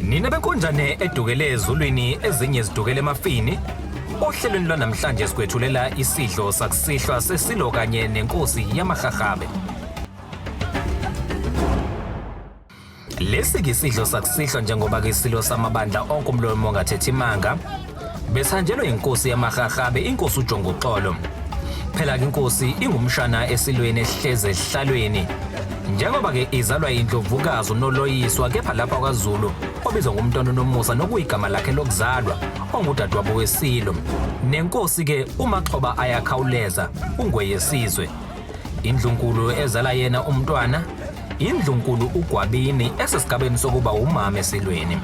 Nina benkonjane edukele ezulwini ezinye zidukele emafini ohlelweni lwanamhlanje sikwethulela isidlo sakusihlwa sesilo kanye nenkosi yamahahabe lesi ke isidlo sakusihlwa njengoba ke isilo samabandla onke umlomo ongathethi imanga Besanjelwe inkosi yamahahabe inkosi uJongoxolo. Phela ke inkosi ingumshana esilweni esihleze esihlalweni. Njengoba ke izalwa indlovukazi uNoloyiswa kepha lapha kwaZulu obizwa ngumntwana uNomusa nokuyigama lakhe lokuzalwa ongudadewabo weSilo. Nenkosi ke uMaxhoba ayakhawuleza ungweyesizwe indlunkulu ezala yena umntwana indlunkulu ugwabini esesigabeni sokuba umama esilweni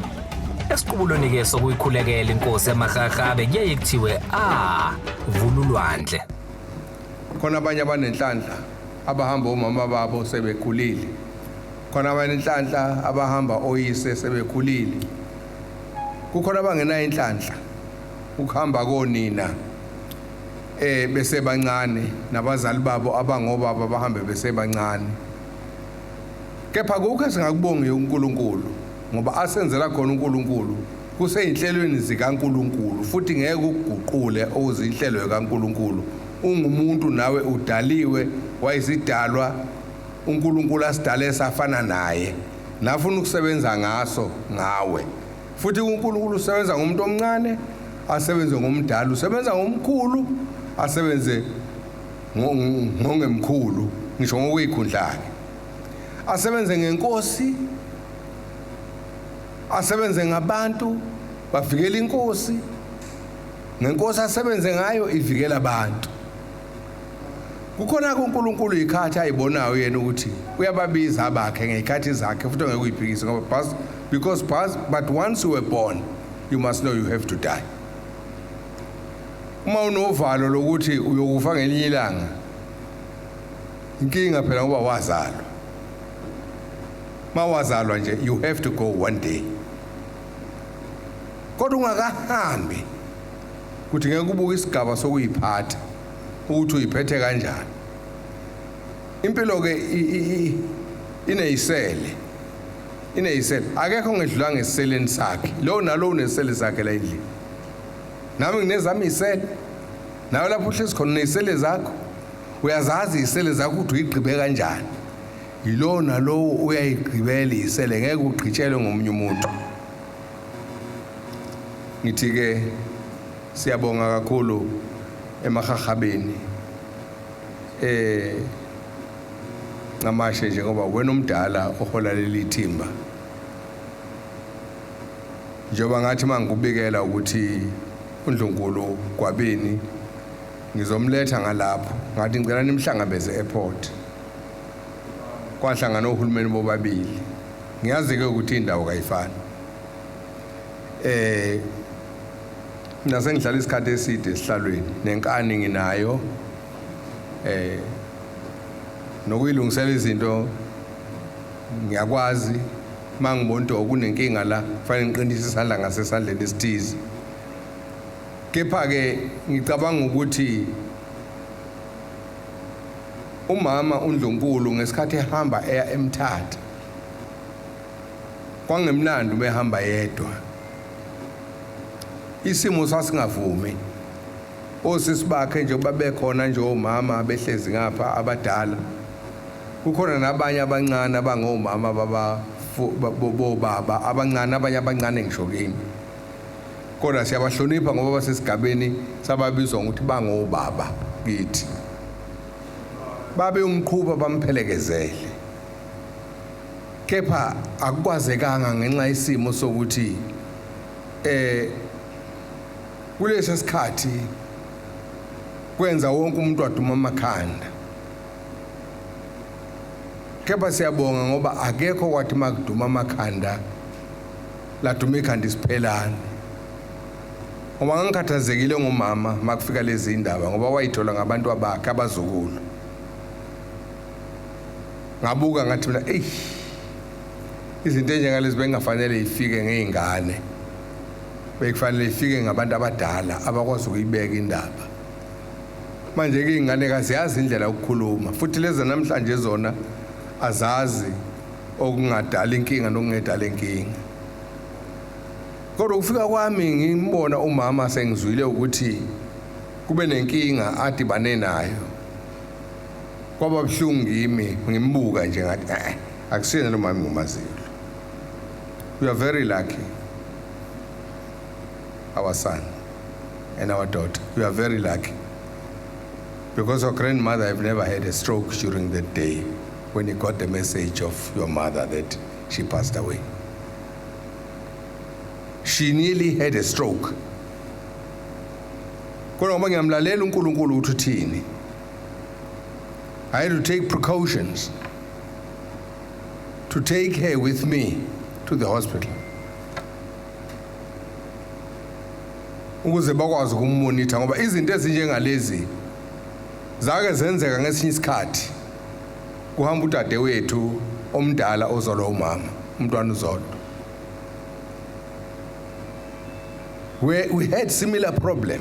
esiqubulweni-ke sokuyikhulekela inkosi yamahlahlabe kuyaye kuthiwe a ah, vululwandle khona abanye abanenhlanhla abahamba omama babo sebekhulile khona abanenhlanhla abahamba oyise sebekhulile kukhona abangenayo inhlanhla ukuhamba konina eh besebancane nabazali babo abangobaba bahambe besebancane kepha kukho esingakubongi uNkulunkulu ngoba asenzela khona uNkulunkulu kuseyinhlelweni zikaNkulunkulu futhi ngeke ukuguqule okuzinhlelo zikaNkulunkulu ungumuntu nawe udaliwe wayisidalwa uNkulunkulu asidale safana naye nafuna ukusebenza ngaso ngawe Futhi uNkulunkulu usebenza ngomuntu omncane, asebenze ngomdala, usebenza ngomkhulu, asebenze ngongemkhulu, ngisho ngokuyikhundlake. Asebenze ngenkosi, asebenze ngabantu, bavikela inkosi. Ngenkosi asebenze ngayo ivikela abantu. Kukhona kuNkulunkulu ikhathi ayibonayo yena ukuthi uyababiza abakhe ngezikhathi zakhe futhi ngeke uyiphikise ngoba Because but once you were born, you must know you have to die. Uma unovalo lokuthi uyokufa ngelinye ilanga. Inkinga phela ngoba wazalwa. Mawazalwa nje you have to go one day. Kodwa ungakahambi kuthi ngeke ubuke isigaba sokuyiphatha ukuthi uyiphethe kanjani. Impilo ke ineyisele ineyisele akekho ngedlula ngeseleni sakhe lowo nalowo unesele zakhe la endlini nami nginezami isele nawe lapho uhlezi khona unesele zakho uyazazi isele zakho ukuthi uyigqibe kanjani yilowo nalowo uyayigqibela isele ngeke ugqitshelwe ngomunye umuntu ngithi-ke siyabonga kakhulu emahahabeni um eh, Ncamashe nje ngoba wena umdala ohola leli thimba. Njengoba ngathi mangikubikela ukuthi uNdlunkulu Gwabini ngizomletha ngalapho ngathi ngicela nimhlangabeze airport. Kwahlangana ohulumeni bobabili. Ngiyazi ke ukuthi indawo kayifani. Eh nase ngihlala isikhathi eside esihlalweni nenkani nginayo eh nokuyilungisela izinto ngiyakwazi mangibona ukuthi okunenkinga la kufanele ngiqinise isandla ngasesandleni esithize kepha ke ngicabanga ukuthi umama uNdlunkulu ngesikhathi ehamba eya emthatha kwangemnandi ubehamba yedwa isimo sasingavumi Osisi bakhe nje ukuba bekhona nje omama behlezi ngapha abadala. Kukhona nabanye abancane abangomama baba bobaba abancane abanye abancane ngisho kimi. Kodwa siyabahlonipha ngoba basesigabeni sababizwa ngokuthi bangobaba kithi. Babe umqhuba bamphelekezele. Kepha akukwazekanga ngenxa isimo sokuthi eh Kulesi sikhathi kwenza wonke umuntu waduma amakhanda kepha siyabonga ngoba akekho kwathi makuduma amakhanda laduma ikhanda isiphelane ngoba ngangikhathazekile ngomama makufika lezi indaba ngoba wayithola ngabantu abakhe abazukulu ngabuka ngathi mina eyi izinto enjengalezi bengafanele ifike ngey'ngane bekufanele ifike ngabantu abadala abakwazi ukuyibeka indaba manje-ke iy'ngane kaziyazi indlela yokukhuluma futhi lezi namhlanje zona azazi okungadala inkinga nokungedala inkinga kodwa ukufika kwami ngimbona umama sengizwile ukuthi kube nenkinga adibane nayo kwaba buhlungu kimi ngimbuka nje ngathi eh akusiyena lo mama ngomaziyo you are very lucky our son and our daughter you are very lucky because your grandmother have never had a stroke during the day when he got the message of your mother that she passed away. She nearly had a stroke. Kodwa ngoba ngiyamlalela uNkulunkulu ukuthi uthini. I had to take precautions to take her with me to the hospital. ukuze bakwazi ukummonitha ngoba izinto ezinjengalezi zake zenzeka ngesinye isikhathi kuhamba udade wethu omdala ozolwa umama umntwana uzodwa we, we had similar problem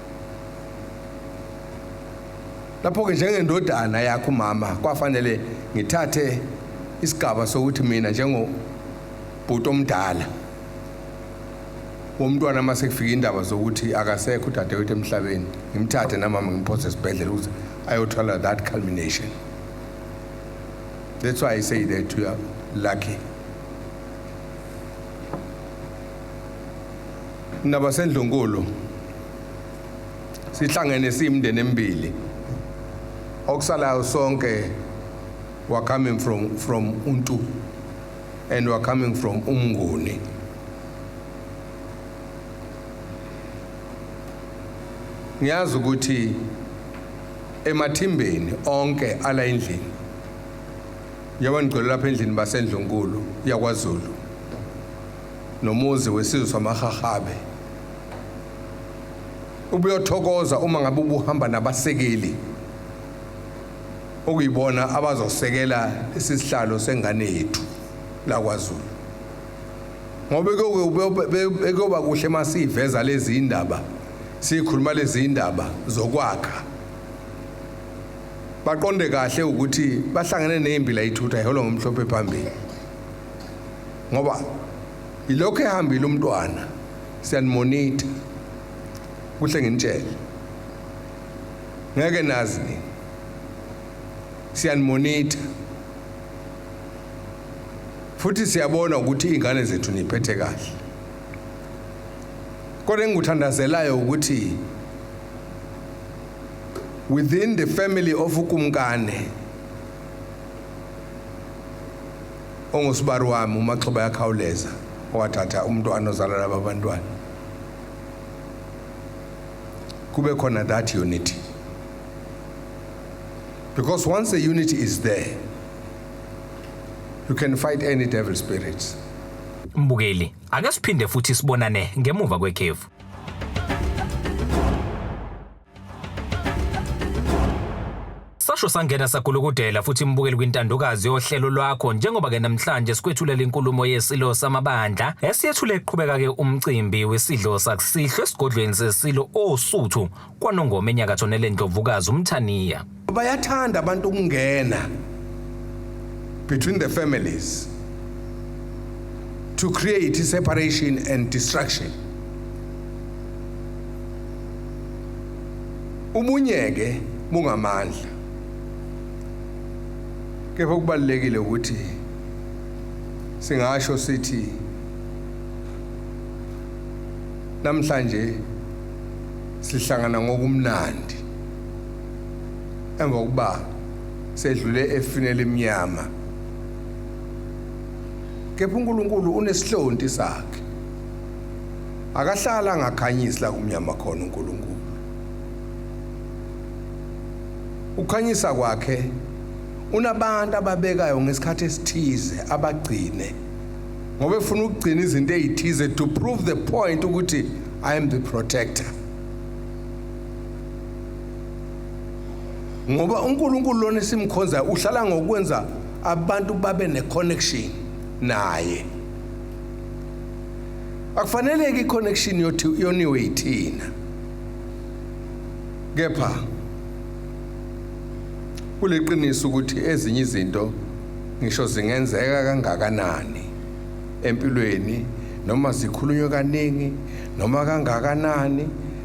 lapho-ke njengendodana yakho umama kwafanele ngithathe isigaba sokuthi mina njengobhuti omdala womntwana uma sekufika indaba zokuthi akasekho udadewethu emhlabeni ngimthathe namama ngimphose esibhedlela ukuze ayothola that culmination that's why i say that you are lucky nabasendlunkulu sihlangene siyimndeni emibili okusalayo sonke were coming from from untu and were coming from umnguni ngiyazi ukuthi emathimbeni onke ala endlini yabangicela lapha endlini basendlunkulu yakwaZulu nomuzi wesizwe samahahabe ubuyothokoza uma ngabe ubuhamba nabasekeli okuyibona abazosekela isisihlalo sengane yethu la kwaZulu ngoba kuyoba kuhle uma siyiveza lezi indaba sikhuluma lezi indaba zokwakha baqonde kahle ukuthi bahlangene nezimbila ithutha iholo ngomhlophe phambili ngoba ilokho ehambile umntwana siyanimonita kuhle nginitshele ngeke nazi nini siyanimonita futhi siyabona ukuthi iy'ngane zethu niyiphethe kahle kodwa engikuthandazelayo ukuthi within the family of ukumkane ongusibari wami umaxhoba yakhawuleza owathatha umntwana ozalwa laba bantwana kube khona that unity because once the unity is there you can fight any devil spirits mbukeli ake siphinde futhi sibonane ngemuva kwekhefu Sasho sangena sagulukudela futhi imbukeli kwintandokazi yohlelo lwakho njengoba ke namhlanje sikwethulela inkulumo yesilo samabandla esiyethule eqhubeka ke umcimbi wesidlo sakusihlwe esigodlweni sesilo osuthu kwanongoma enyakatho nelendlovukazi umthaniya bayathanda abantu ukungena between the families to create separation and destruction ubunyeke bungamandla kepha kubalulekile ukuthi singasho sithi namhlanje sihlangana ngokumnandi emva kokuba sedlule efini elimnyama kepha uNkulunkulu unesihlonti sakhe akahlala angakhanyisi la kumnyama khona uNkulunkulu ukhanyisa kwakhe unabantu ababekayo ngesikhathi esithize abagcine ngoba efuna ukugcina izinto ezithize to prove the point ukuthi i am the protector ngoba uNkulunkulu lona simkhonza uhlala ngokwenza abantu babe neconnection naye akufaneleke iconnection yothi yoniwe ithina kepha kuleqiniso ukuthi ezinye izinto ngisho zingenzeka kangakanani empilweni noma zikhulunywe kaningi noma kangakanani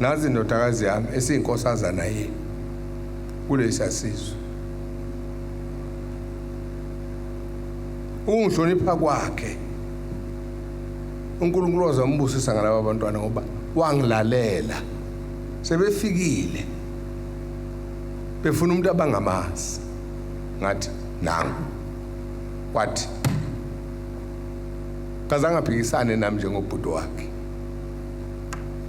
nazi indodakazi yami esiyinkosazana yini kulesa sizwe ukungihlonipha kwakhe uNkulunkulu wazambusisa ngalabo bantwana ngoba wangilalela sebefikile befuna umuntu abangamazi ngathi nangu wathi kaze angaphikisane nami njengobhuti wakhe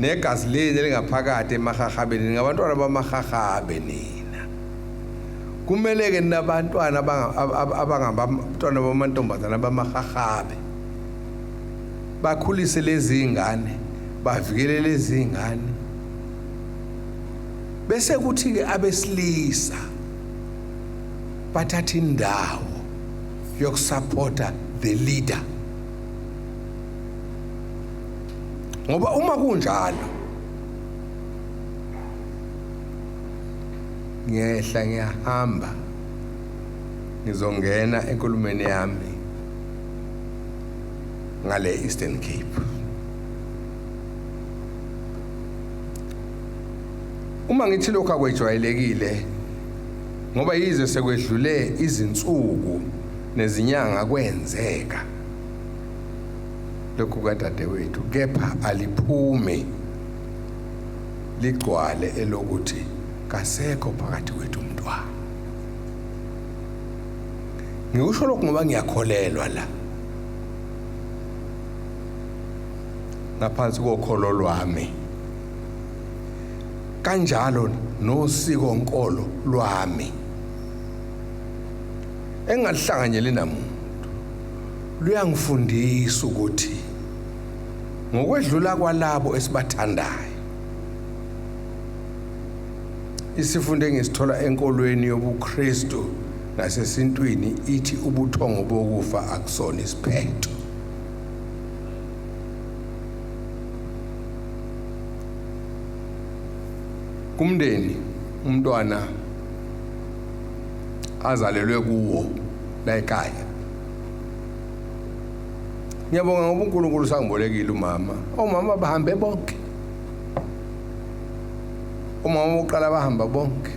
Negazi leni elingaphakathi emahahabeni ningabantwana bamahahabe nina. Kumele ke ninabantwana abangabantwana bamantombazana bamahahabe. Bakhulise lezi ingane, bavikele lezi ingane. Bese kuthi ke abesilisa bathatha indawo yokusupporta the leader. ngoba uma kunjalo ngiyehla ngiyahamba ngizongena enkulumeni yami ngale Eastern Cape uma ngithi lokho akwejwayelekile ngoba yize sekwedlule izinsuku nezinyanga kwenzeka lokhu kadadewethu kepha aliphume ligcwale elokuthi kasekho phakathi kwethu umntwana ngikusho lokhu ngoba ngiyakholelwa la ngaphansi kokholo lwami kanjalo nosiko nkolo lwami engahlanganyeli namuntu luyangifundisa ukuthi ngokwedlula kwalabo esibathandayo isifundo engisithola enkolweni yobuKristu nasesintwini ithi ubuthongo bokufa akusona isiphetho kumndeni umntwana azalelwe kuwo la ekhaya ngiyabonga ngoba uNkulunkulu usangibolekile umama omama oh, bahambe bonke umama oh, uqala bahamba bonke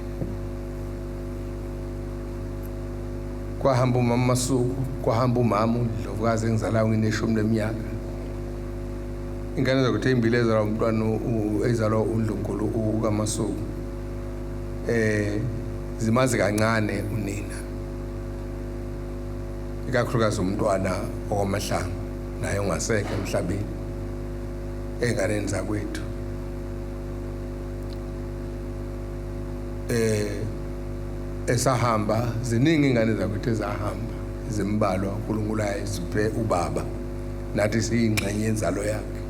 kwahamba umama masuku kwahamba umama undlovukazi engizalayo ngineshumi leminyaka ingane zakuthi ezimbili ezalwa umntwana ezalwa undlunkulu ukamasuku eh zimazi kancane unina ikakhulukazi umntwana okwamahlanga naye ungasekho emhlabeni enganeni zakwethu eh esahamba ziningi ingane zakwethu ezahamba zimbalwa uNkulunkulu ayisiphe ubaba nathi siyingxenye yenzalo yakhe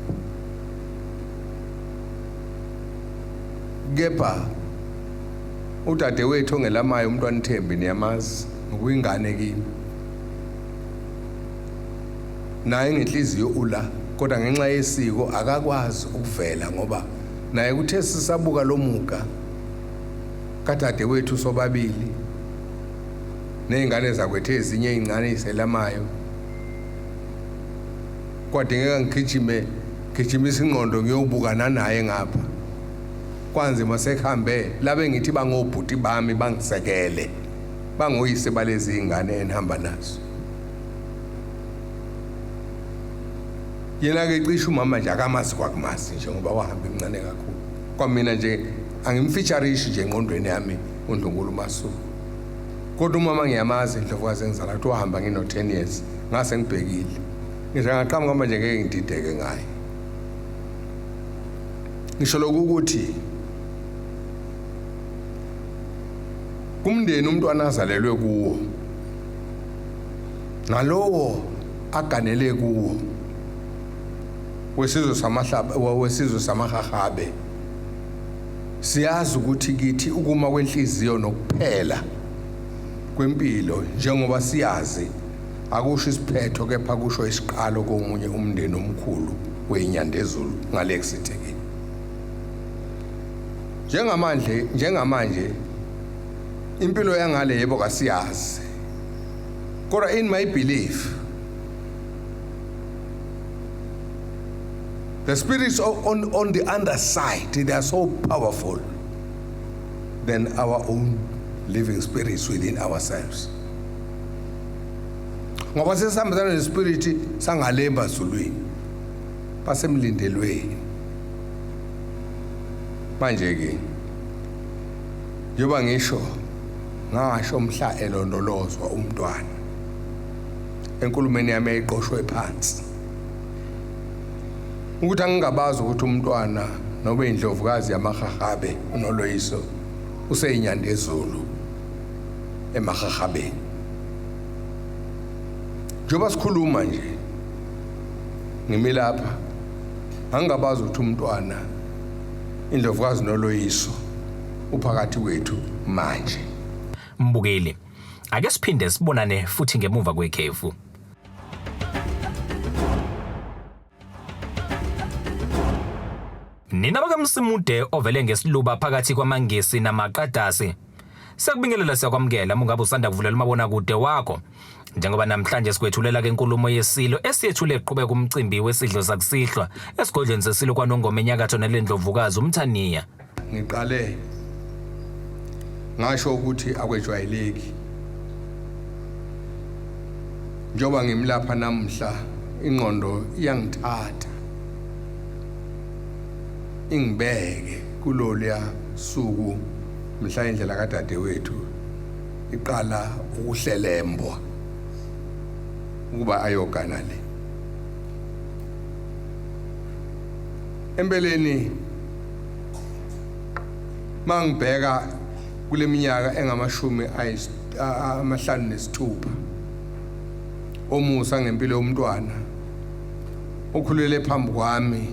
kepha Udadewethu ongelamayo umntwana Thembi niyamazi ngokuyingane kimi. Naye ngenhliziyo ula kodwa ngenxa yesiko akakwazi ukuvela ngoba naye kuthe sisabuka lomuka kadadewethu sobabili nezingane zakwethe ezinye ezincane iselamayo kwadingeka ngigijime gijimisa ingqondo ngiyobukana naye ngapha kwanzima sekuhambe labe ngithi bangobhuti bami bangisekele bangoyise balezi ingane enihamba nazo yena-ke cishe umama nje akamazi kwakumazi nje ngoba wahamba imncane kakhulu kwamina nje angimfeatharishi nje engqondweni yami undlunkulu umasuku kodwa umama ngiyamazi indlovukazi engizala kuthi wahamba ngino-ten years ngase ngibhekile ngisho ngaqhamuka manje ngeke ngidideke ngaye ngisho lokhu ukuthi kumndeni umntwana azalelwe kuwo nalowo aganele kuwo wesizwe samahlaba wesizwe samahahabe siyazi ukuthi kithi ukuma kwenhliziyo nokuphela kwempilo njengoba siyazi akusho isiphetho kepha kusho isiqalo komunye umndeni omkhulu weNyandezulu ngale kusitekile njengamanje njengamanje impilo yangale yebo kasiyazi kodwa in my belief the spirits on, on the other side they are so powerful than our own living spirits within ourselves ngoba sesihambisana nespiriti sangalemba zulwini basemlindelweni manje ke yoba ngisho ngasho mhla elondolozwa umntwana enkulumeni yami eyiqoshwe phansi ukuthi angingabazi ukuthi umntwana nobe indlovukazi yamahahabe unoloyiso useyinyandezulu emahahabeni njengoba sikhuluma nje ngimi lapha angingabazi ukuthi umntwana indlovukazi noloyiso uphakathi kwethu manje mbukeli ake siphinde sibonane futhi ngemuva kwekhefu Nina bakamsimude ovele ngesiluba phakathi kwamangisi namaqadasi Siyakubingelela siyakwamukela mungabe usanda kuvulela umabona kude wakho njengoba namhlanje sikwethulela ke inkulumo yesilo esiyethule eqhubeka umcimbi wesidlo sakusihlwa esigodlweni sesilo kwanongoma enyakatho nelendlovukazi umthaniya Ngiqale ngasho ukuthi akwejwayeleki njengoba ngimlapha namhla ingqondo iyangithatha ingibeke kulolya suku mhla indlela kadadewethu iqala ukuhlelembwa ukuba ayogana le empeleni mangibheka kuleminyaka engamashumi amahlanu nesithupha omusa ngempilo yomntwana okhulele phambi kwami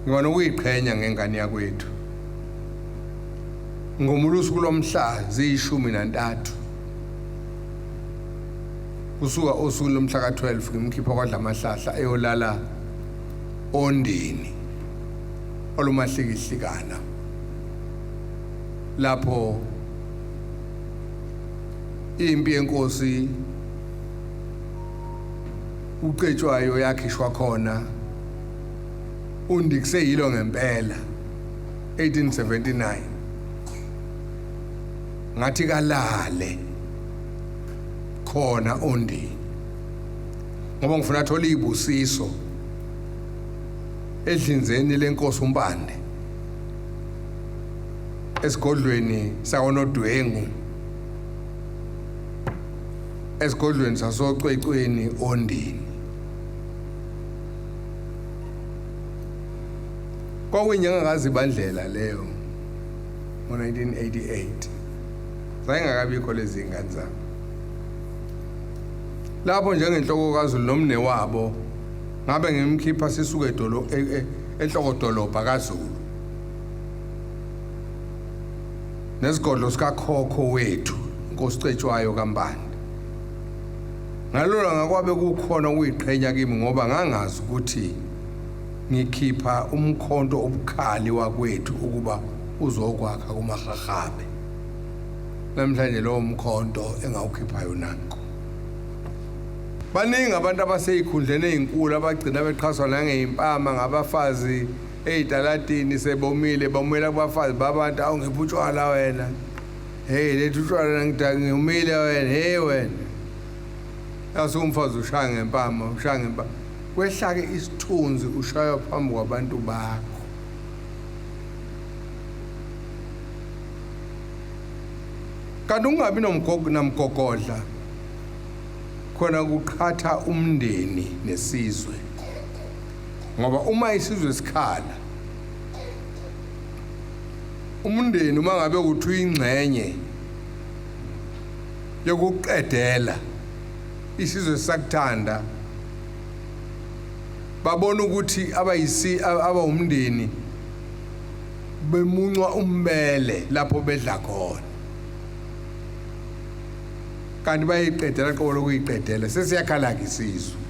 ngibona ukuyiqhenya ngengane yakwethu ngomulusuku lomhla ziyishumi nantathu kusuka osuku lomhla ka-12 ngimkhipha kwadla amahlahla eyolala ondini olumahlikihlikana lapho impi yenkosi ucetshwayo yakhishwa khona undikise yilo ngempela 1879 ngathi kalale khona ondini ngoba ngifuna athole izibusiso edlinzeni lenkosi umpande esigodlweni sakonodwengu esigodlweni sasocwecweni ondini kwakuyinyanga kazibandlela leyo ngo-1988 zayengakabikho lezi ngane zami Lapho njengenhloko kaZulu nomnewabo ngabe ngimkhipha sisuke edolo e, e, enhloko dolobha kaZulu. Nesigodlo sikakhokho wethu inkosi Cetshwayo kaMbani. Ngalona ngakwabe kukhona ukuyiqhenya kimi ngoba ngangazi ukuthi ngikhipha umkhonto obukhali wakwethu ukuba uzokwakha kumahahabe. Namhlanje lowo mkhonto engawukhiphayo nanko. baningi abantu abaseyikhundleni ezinkulu abagcina bexhaswa nangezimpama ngabafazi eyitalatini sebomile bomela kubafazi babantu awu ngipha utshwala wena hey lethu utshwala ngidaka ngiyumile wena hey wena yase umfazi ushaya ngempama ushaya ngempama kwehlake isithunzi ushaywa phambi kwabantu bakho kanti ukungabi namgogodla khona kuqhatha umndeni nesizwe ngoba uma isizwe sikhala umndeni uma ngabe ukuthi uyingxenye yokuqedela isizwe sakuthanda babona ukuthi abayisi abawumndeni bemuncwa ummele lapho bedla khona kanti bayiqedela qobo lokuyiqedela sesiyakhala-ke isizwe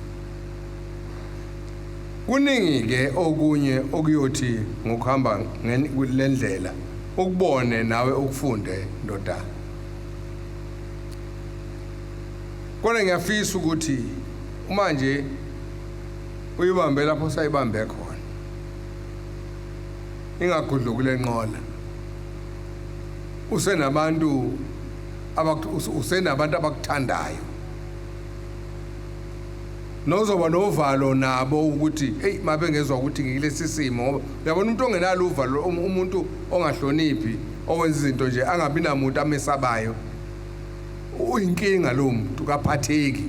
kuningi-ke okunye okuyothi ngokuhamba le ndlela ukubone nawe ukufunde ndodana kodwa ngiyafisa ukuthi uma nje uyibambe lapho sayibambe khona ingagudluki kule nqola usenabantu usenabantu abakuthandayo nozoba novalo nabo ukuthi hey mabengezwa ukuthi ngilesi simo ngoba uyabona umuntu ongenalo uvalo um, umuntu ongahloniphi owenza izinto nje angabi namuntu amesabayo uyinkinga lo muntu kaphatheki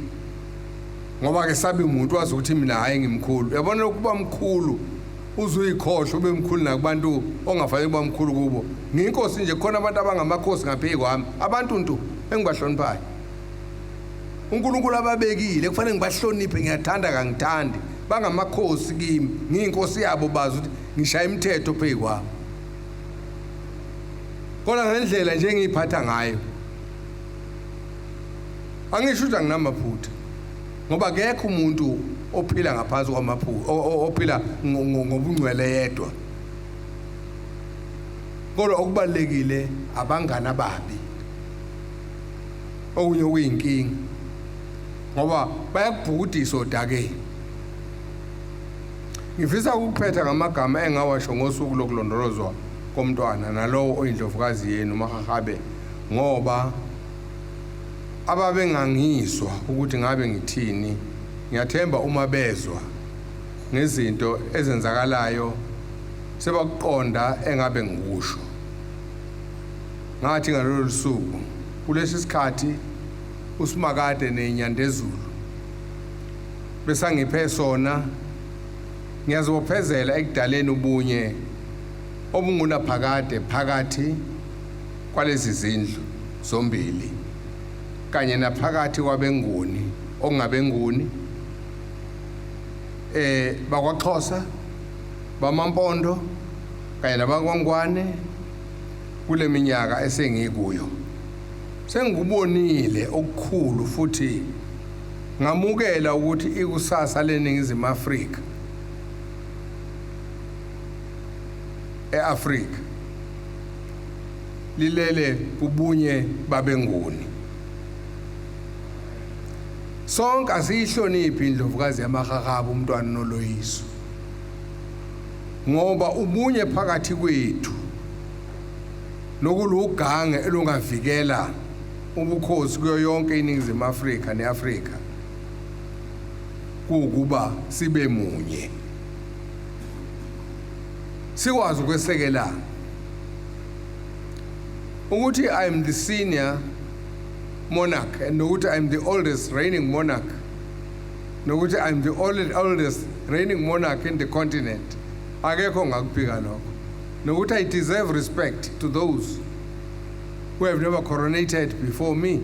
ngoba ke sabi umuntu wazi ukuthi mina hayi ngimkhulu uyabona ukuba mkhulu uzuyikhohlwa ube mkhulu nakubantu ongafanele uba mkhulu kubo ngiyinkosi nje khona abantu abangamakhosi ngapheyi kwami abantu ntu engibahloniphayo unkulunkulu ababekile kufanele ngibahloniphe ngiyathanda kangithandi bangamakhosi kimi ngiyinkosi yabo bazi ukuthi ngishaya imithetho pheyi kwami kodwa ngendlela nje engiyiphatha ngayo angisho ukuthi anginamaphutha ngoba kekho umuntu ophila ngaphansi kwamaphupho ophila ngobungcwele yedwa kodwa okubalekile abangani ababi okunye okuyinkinga ngoba bayakubhukudisa odakeni ngifisa ukuphetha ngamagama engawasho ngosuku lokulondolozwa komntwana nalowo oyindlovukazi yenu mahahabe ngoba ababengangizwa ukuthi ngabe ngithini ngiyathemba uma bezwa ngezinto ezenzakalayo sebakuqonda engabe ngikusho ngathi ngalolu suku kulesi sikhathi usimakade nenyandezulu besangiphe sona ngiyazibophezela ekudaleni ubunye obungunaphakade phakathi kwalezi zindlu zombili kanye naphakathi kwabeNguni okungabeNguni eh bakwaXhosa bamaMpondo kanye nabakwaNgwane kule minyaka esengikuyo sengikubonile okukhulu futhi ngamukela ukuthi ikusasa leningizimu Afrika eAfrika lilele ubunye babenguni sonke asiyihloniphi indlovukazi yamahahaba umntwana noloyiso ngoba ubunye phakathi kwethu nokulugange elungavikela ubukhosi kuyo yonke iningizimu Afrika neAfrika kuukuba sibe munye sikwazi ukwesekela ukuthi i am the senior monarch and nokuthi i am the oldest reigning monarch nokuthi i am the oldest reigning monarch in the continent akekho ngakuphika lokho nokuthi i deserve respect to those who have never coronated before me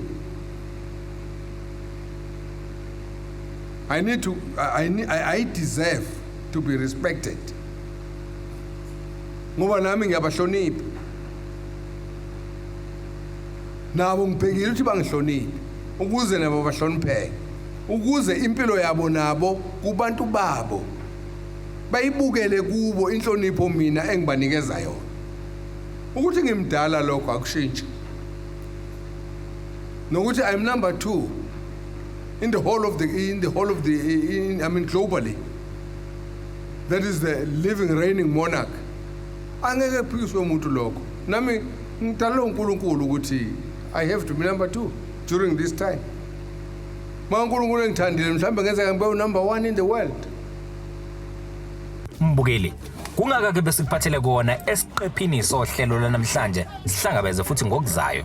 I need to, I, I, I deserve to be respected ngoba nami ngiyabahlonipha nabo ngibhekile ukuthi bangihloniphe ukuze nabo bahlonipheke ukuze impilo yabo nabo kubantu babo bayibukele kubo inhlonipho mina engibanikeza yona ukuthi ngimdala lokho akushintshi nokuthi i'm number 2 in the whole of the in the whole of the in, I mean globally that is the living reigning monarch angeke kuphikiswe umuntu lokho nami ngidalelwe uNkulunkulu ukuthi i have to be number 2 during this time ma uNkulunkulu engithandile mhlawumbe ngenzeka ngibe unumber 1 in the world mbukeli Kungaka ke besikuphathele kona esiqephini sohlelo lanamhlanje sihlangabeze futhi ngokuzayo.